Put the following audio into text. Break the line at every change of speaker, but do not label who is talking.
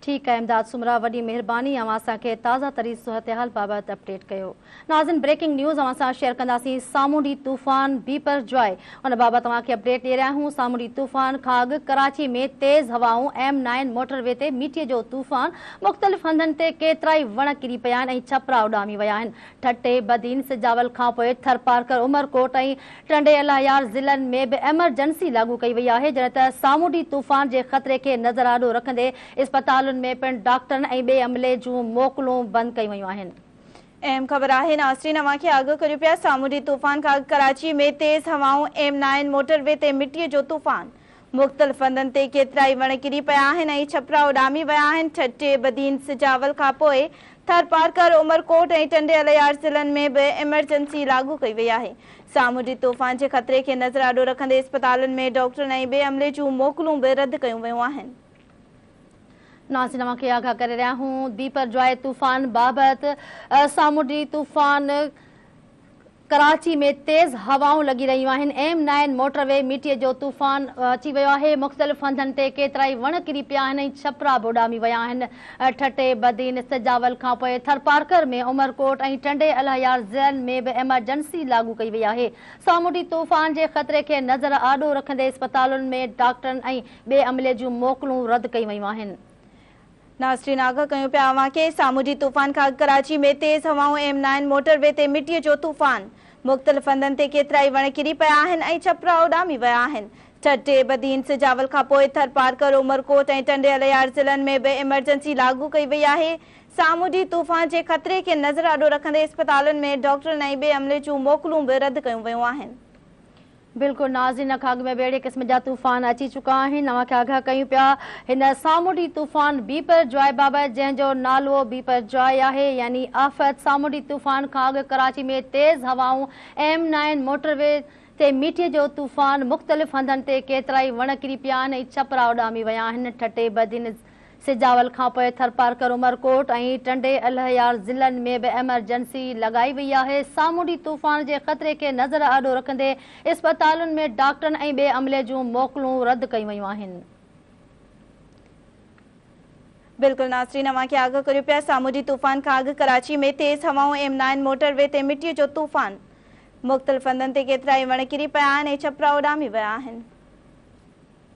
ٺيڪ آهي امداد سومرا وڏي مهرباني اوهان اسان کي تازه ترين صحتحال بابت اپڊيٽ ڪيو ناظرين بريڪنگ نيوز اوهان سان شيئر ڪنداسين سامونڊي طوفان بيپر جواء ان بابت اوهان کي اپڊيٽ ڏي رهيا آهيون سامونڊي طوفان کان اڳ ڪراچي ۾ تيز هوائون ايم نائن موٽر وي تي ميٽي جو طوفان مختلف هنڌن تي ڪيترائي وڻ ڪري پيا آهن ۽ ڇپرا اڏامي ويا آهن ٺٽي، بدين، سجاول کانپوء ٿرپارڪر، عمرڪوٽ ۽ ٽنڊي الايار ضلعن ۾ به ايمرجنسي لاڳو ڪئي وئي آهي، جڏهن ته سامونڊي طوفان جي خطري کي نظر آڏو رکندي اسپتالن ۾ پڻ ڊاڪٽرن ۽ ٻئي عملي جون موڪلون بند ڪيون ويون آهن. اهم خبر
آهي ناصرين اوهان کي آگاهه ڪريون پيا سامونڊي طوفان کان اڳ ڪراچي ۾ تيز هوائون ايم نائن موٽر وي تي مٽي جو طوفان مختلف هنڌن تي ڪيترائي وڻ ڪري پيا آهن ۽ ڇپرا اڏامي ويا آهن. ٺٽي، بدين، سجاول کان پوء ٿرپارڪر، عمرڪوٽ ۽ ٽنڊي الهيار ضلعن ۾ به ايمرجنسي لاڳو ڪئي وئي آهي. سامونڊي طوفان جي خطري کي نظر آڏو رکندي اسپتالن ۾ ڊاڪٽرن ۽ ٻئي عملي جون موڪلون به رد ڪيون ويون آهن.
ناظرين اوهان کي آگاهه ڪري رهيا آهيون بيپرجوائي طوفان بابت سامونڊي طوفان. ڪراچي ۾ تيز هوائون لڳي رهيون آهن، ايم نائن موٽر وي مٽيء جو طوفان اچي ويو آهي، مختلف هنڌن تي ڪيترائي وڻ ڪري پيا آهن ۽ ڇپرا به اڏامي ويا آهن، ٺٽي، بدين، سجاول کانپوء ٿرپارڪر ۾ عمرڪوٽ ۽ ٽنڊي الهيار ضلعن ۾ به ايمرجنسي لاڳو ڪئي وئي آهي، سامونڊي طوفان جي خطري کي نظر آڏو رکندي اسپتالن ۾ ڊاڪٽرن ۽ ٻئي عملي جون موڪلون رد ڪيون ويون آهن. ناصرين
آگهه ڪيون پيا اوهان کي، سامونڊي طوفان کان اڳ ڪراچي ۾ تيز هوائون ايم نائن موٽر وي تي مٽيء جو طوفان، مختلف هنڌن تي ڪيترائي وڻ ڪري پيا آهن ۽ ڇپرا اڏامي ويا آهن، ٺٽي، بدين، سجاول کانپوء ٿرپارڪر، عمرڪوٽ ۽ ٽنڊي الهيار ضلعن ۾ به ايمرجنسي لاڳو ڪئي وئي آهي، سامونڊي طوفان جي خطري کي نظر آڏو رکندي اسپتالن ۾ ڊاڪٽرن ۽ ٻئي عملي جون موڪلون به رد ڪيون ويون آهن. بلڪل
ناظرين ان کان اڳ ۾ به اهڙي قسم جا طوفان اچي چڪا آهن اوهان کي آگاهه ڪيون پيا هن سامونڊي طوفان بيپر جواء بابت جنهن جو نالوء بيپر جواء آهي يعني آفت سامونڊي طوفان کان اڳ ڪراچي ۾ تيز هوائون ايم نائين موٽر وي تي ميٺي جو طوفان مختلف هنڌن تي ڪيترائي وڻ ڪري پيا آهن ۽ ڇپرا اڏامي ويا آهن ٺٽي بدين سجاول کانپوء ٿرپارڪر، عمرڪوٽ ۽ ٽنڊي الهيار ضلعن ۾ به ايمرجنسي لڳائي وئي آهي، سامونڊي طوفان جي خطري کي نظر آڏو رکندي اسپتالن ۾ ڊاڪٽرن ۽ ٻئي عملي جون موڪلون رد ڪيون ويون آهن.
بلڪل ناظرين اوهان کي آگاهه ڪريون پيا سامونڊي طوفان کان اڳ ڪراچي ۾ تيز هوائون ايم نائن موٽر وي تي مٽي جو طوفان مختلف هنڌن تي ڪيترائي وڻ ڪري پيا آهن ۽ ڇپرا اڏامي ويا آهن.